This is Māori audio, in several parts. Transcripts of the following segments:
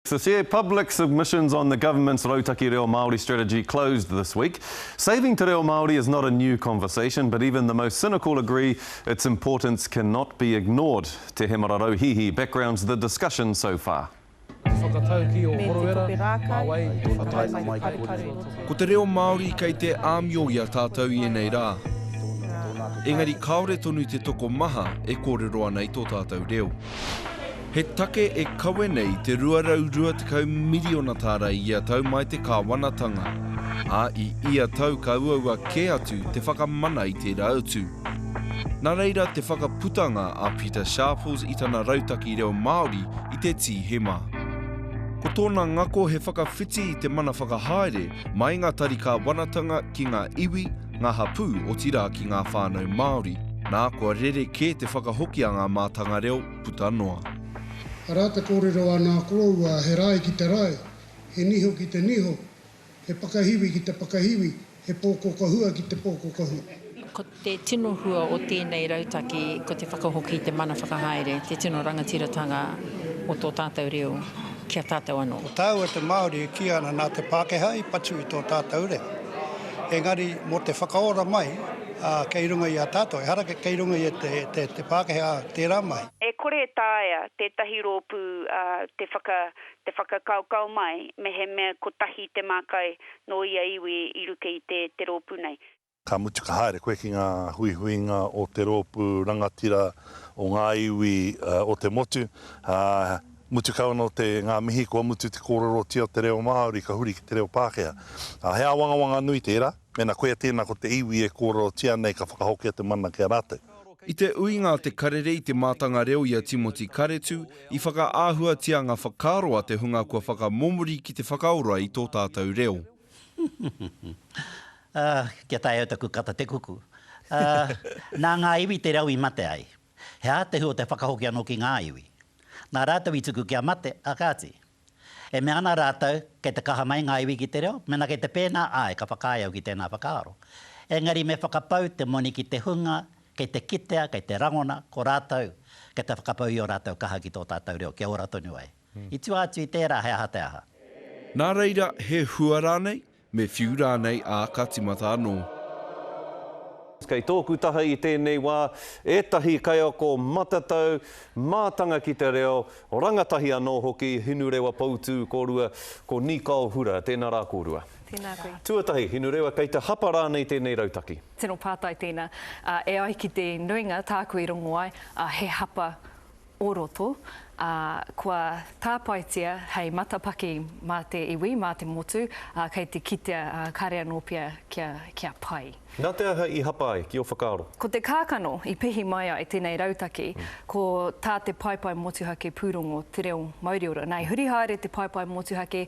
The te public submissions on the government's Rautaki Reo Māori strategy closed this week. Saving te reo Māori is not a new conversation, but even the most cynical agree its importance cannot be ignored. Te Hemara Rauhihi backgrounds the discussion so far. Ko te reo Māori kei te āmio i a tātou i ēnei rā. Engari kāore tonu te toko maha e kōrero ana i tō tātou reo. He take e kawe nei te 220 miriona tāra i ia tau mai te kāwanatanga, ā, i ia tau ka uaua kē atu te whakamana i tērā utu. Nā reira te whakaputanga a Pita Sharples i tana rautaki reo Māori i te Tīhema. Ko tōna ngako he whakawhiti i te mana whakahaere mai ngā tari kāwanatanga ki ngā iwi, ngā hapū, otirā ki ngā whānau Māori. Nā, kua rere kē te whakahoki a ngā mātanga reo, puta noa. Arā te kōrero a nā koroua he rae ki te rae, he niho ki te niho, he pakahiwi ki te pakahiwi, he pōkoka hua ki te pōkoka hua. Ko te tino hua o tēnei rautaki ko te whakahoki i te mana whakahaere, te tino rangatiratanga o tō tātou reo ki a tātou anō. Ko tāua te Māori e kī ana nā te Pākehā i patu i tō tātou reo. Engari mō te whakaora mai kei runga i a tātou, ehara kei runga i te Pākehā tērā mahi. E kore e taea tētahi rōpū te whakakaokao mai mehemea kotahi te mākai nō ia iwi i ruke i te rōpū nei. Ka mutu ka haere koe ki ngā huihuinga o te rōpū rangatira o ngā iwi o te motu. Mutu kau anō te, ngā mihi kua mutu te kōrerotia o te reo Māori ka huri ki te reo Pākehā. Ā, he āwangawanga nui tērā, mēnā koia tēnā ko te iwi e kōrerotia nei ka whakahokia te mana ki a rātou. I te uinga a Te Karere i te mātanga reo i a Timoti Karetu, i whakaahuatia ngā whakaaro a te hunga kua whakamomori ki te whakaora i tō tātou reo. Ā, kia taea au taku kata te kuku. Ā, nā ngā iwi te reo i mate ai. He ātehu o te whakahoki anō ki ngā iwi. Nā rātou i tuku kia mate, ā kāti. E mea ana rātou, kei te kaha mai ngā iwi ki te reo, mēnā kei te pēnā, āe, ka whakaae au ki tēnā whakaaro. Engari me whakapau te moni ki te hunga, kei te kitea, kei te rangona, ko rātou, kei te whakapau i ō rātou kaha ki tō tātou reo, kia ora tonu ai. I tua atu i tērā, he aha te aha? Nā reira, he hua rānei? Me whiu rānei, ā, ka timata anō. Kei tōku taha i tēnei wā ētahi kaiako matatau, mātanga ki te reo, rangatahi anō hoki, Hinurewa Poutū kōrua, ko Nikao Hura. Tēnā rā kōrua. Tēnā koe. Tuatahi, Hinurewa, kei te hapa rānei tēnei rautaki? Tino pātai tēnā. E ai ki te nuinga, tāku i rongo ai, he hapa o roto, ā, kua tāpaetia hei matapaki mā te iwi, mā te motu, ā, kei te kitea, ā, kāre anō pea kia, kia pai. Nā te aha i hapa ai, ki ō whakaaro? Ko te kākano i pihi mai ai tēnei rautaki, ko tā te paepae motuhake pūrongo Te Reo Mauriora. Nā, i huri haere te paepae motuhake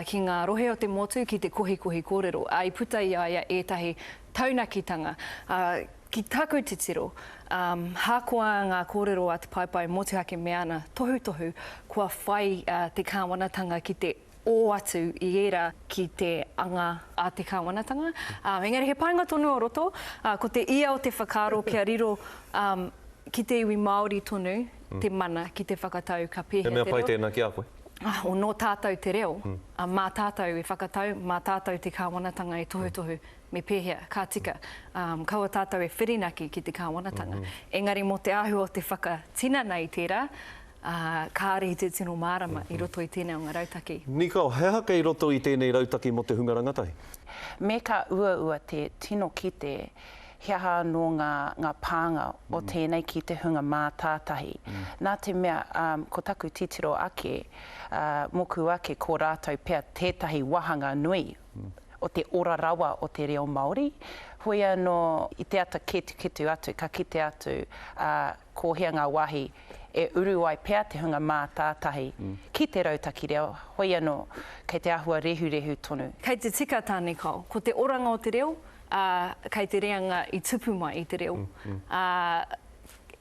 ki ngā rohe o te motu ki te kohikohi kōrero, ā, i puta i a ia ētahi taunakitanga, ā, Ki taku titiro, um, hakoa ngā kōrero a Te Paepae Motuhake me ana tohutohu, kua whai a te Kāwanatanga ki te ō atu i ērā ki te anga a te Kāwanatanga. Um, engari he painga tonu o roto, uh, ko te ia o te whakaaro kia riro um, ki te iwi Māori tonu mm. te mana ki te whakatau ka pēhea te reo. He mea pai tēnā ki a koe? Ah, o nō tātou te reo, mm. uh, mā tātou e whakatau, mā tātou te Kāwanatanga e tohutohu. Mm. me pēhea, ka tika, ā, kaua tātou e whirinaki ki te kāwanatanga. Engari mō te āhua o te whakatinana i tērā, ā, kāre i te tino mārama i roto i tēnei o ngā rautaki. Nicole, he aha kei roto i tēnei rautaki mō te hunga rangatahi? Me ka uaua te tino kite he aha anō ngā, ngā pānga o tēnei ki te hunga mātātahi. Nā te mea, ā, ko taku titiro ake, ā, mōku ake ko rātou pea tētahi wāhanga nui o te ora rawa o te reo Māori, hoi anō i te ata ketuketu atu ka kite atu ā ko hea ngā wāhi e uru ai pea te hunga mātātahi ki te rautaki reo, hoi anō kei te āhua rehurehu tonu. Kei te tika tā Nicole, ko te oranga o te reo, ā, kei te reanga i tupu mai i te reo, ā,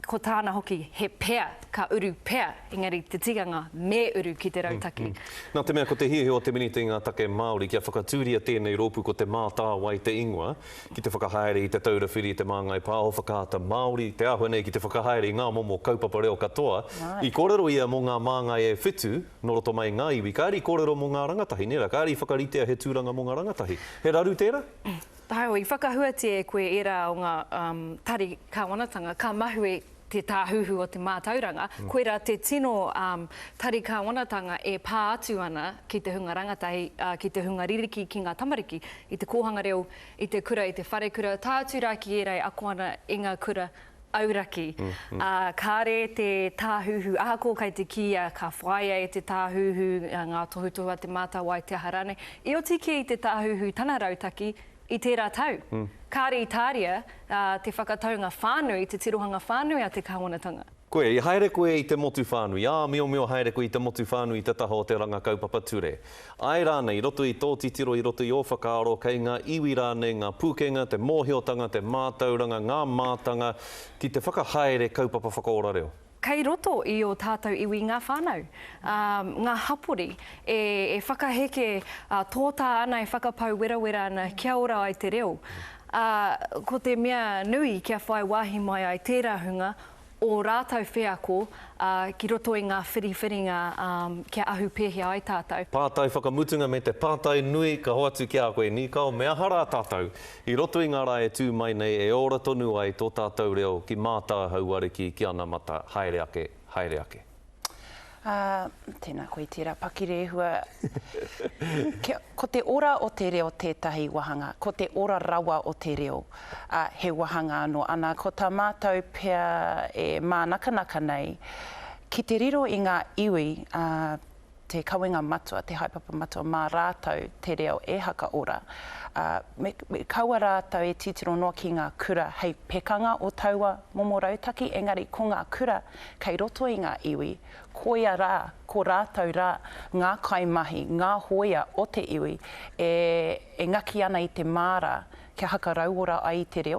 ko tāna hoki he pea, ka uru pea, engari te tikanga me uru ki te rautaki. Nā te mea ko te hiahia o te Minita i ngā take Māori kia whakatūria tēnei rōpū ko Te Mātāwai te ingoa, ki te whakahaere i Te Taura Whiri i te Māngai Pāho Whakaata Māori, te āhua nei ki te whakahaere i ngā momo kaupapa reo katoa, i kōrero ia mō ngā māngai e whitu nō roto mai i ngā iwi, kāre i kōrero mō ngā rangatahi, nē rā, kāre i whakaritea he tūranga mō ngā rangatahi. He raru tērā? Taiao, i whakahuatia e koe ērā o ngā tari kāwanatanga, ka mahue te tāhuhu o te mātauranga, koirā te tino tari kāwanatanga e pā atu ana ki te hunga rangatahi, ki te hunga ririki, ki ngā tamariki, i te kōhanga reo, i te kura, i te wharekura, tae atu rā ki ērā e ako ana i ngā kura Auraki, ā, kāre te tāhuhu, ahakoa kai te kīia ka whāia e te tāhuhu ngā tohutohu a Te Mātāwai, te aha rānei, i oti kē i te tāhuhu tana rautaki i tērā tau. Kāre i tāria te whakataunga whānui, te tirohanga whānui a te kāwanatanga. Koe, i haere koe i te motu whānui, ā, miomio haere koe i te motu whānui i te taha o te ranga kaupapa ture. Āe rānei, i roto i tō titiro, i roto i ō whakaaro, kei ngā iwi rānei ngā pūkenga, te mōhiotanga, te mātauranga, ngā mātanga ki te whakahaere kaupapa whakaora reo? Kei roto i ō tātou iwi ngā whānau, ā, ngā hapori e whakaheke tōtā ana, e whakapau werawera ana kia ora ai te reo, ā, ko te mea nui kia whai wāhi mai ai tērā hunga ō rātou wheako ki roto i ngā whiriwhiringa kia ahu pēhea ai tātou. Pātai whakamutunga me te pātai nui ka hoatu ki a koe Nīkao, me aha rā tātou i roto i ngā rā e tū mai nei e ora tonu ai tō tātou reo ki mātāhau ariki ki anamata haere ake, haere ake. Ā, tēnā koe tērā pakirehua. Kia, ko te ora o te reo tētahi wāhanga, ko te ora rawa o te reo, ā, he wāhanga anō. Ana, ko tā mātou pea e mānakanaka nei, ki te riro i ngā iwi, ā, te kawenga matua, te haepapa matua mā rātou te reo e hakaora, ā, me, me kaua rātou e titiro noa ki ngā kura hei pekanga o taua momo rautaki, engari ko ngā kura kei roto i ngā iwi, koia rā, ko rātou rā ngā kaimahi, ngā hōia o te iwi e, e ngaki ana i te māra kia hakarauora ai te reo.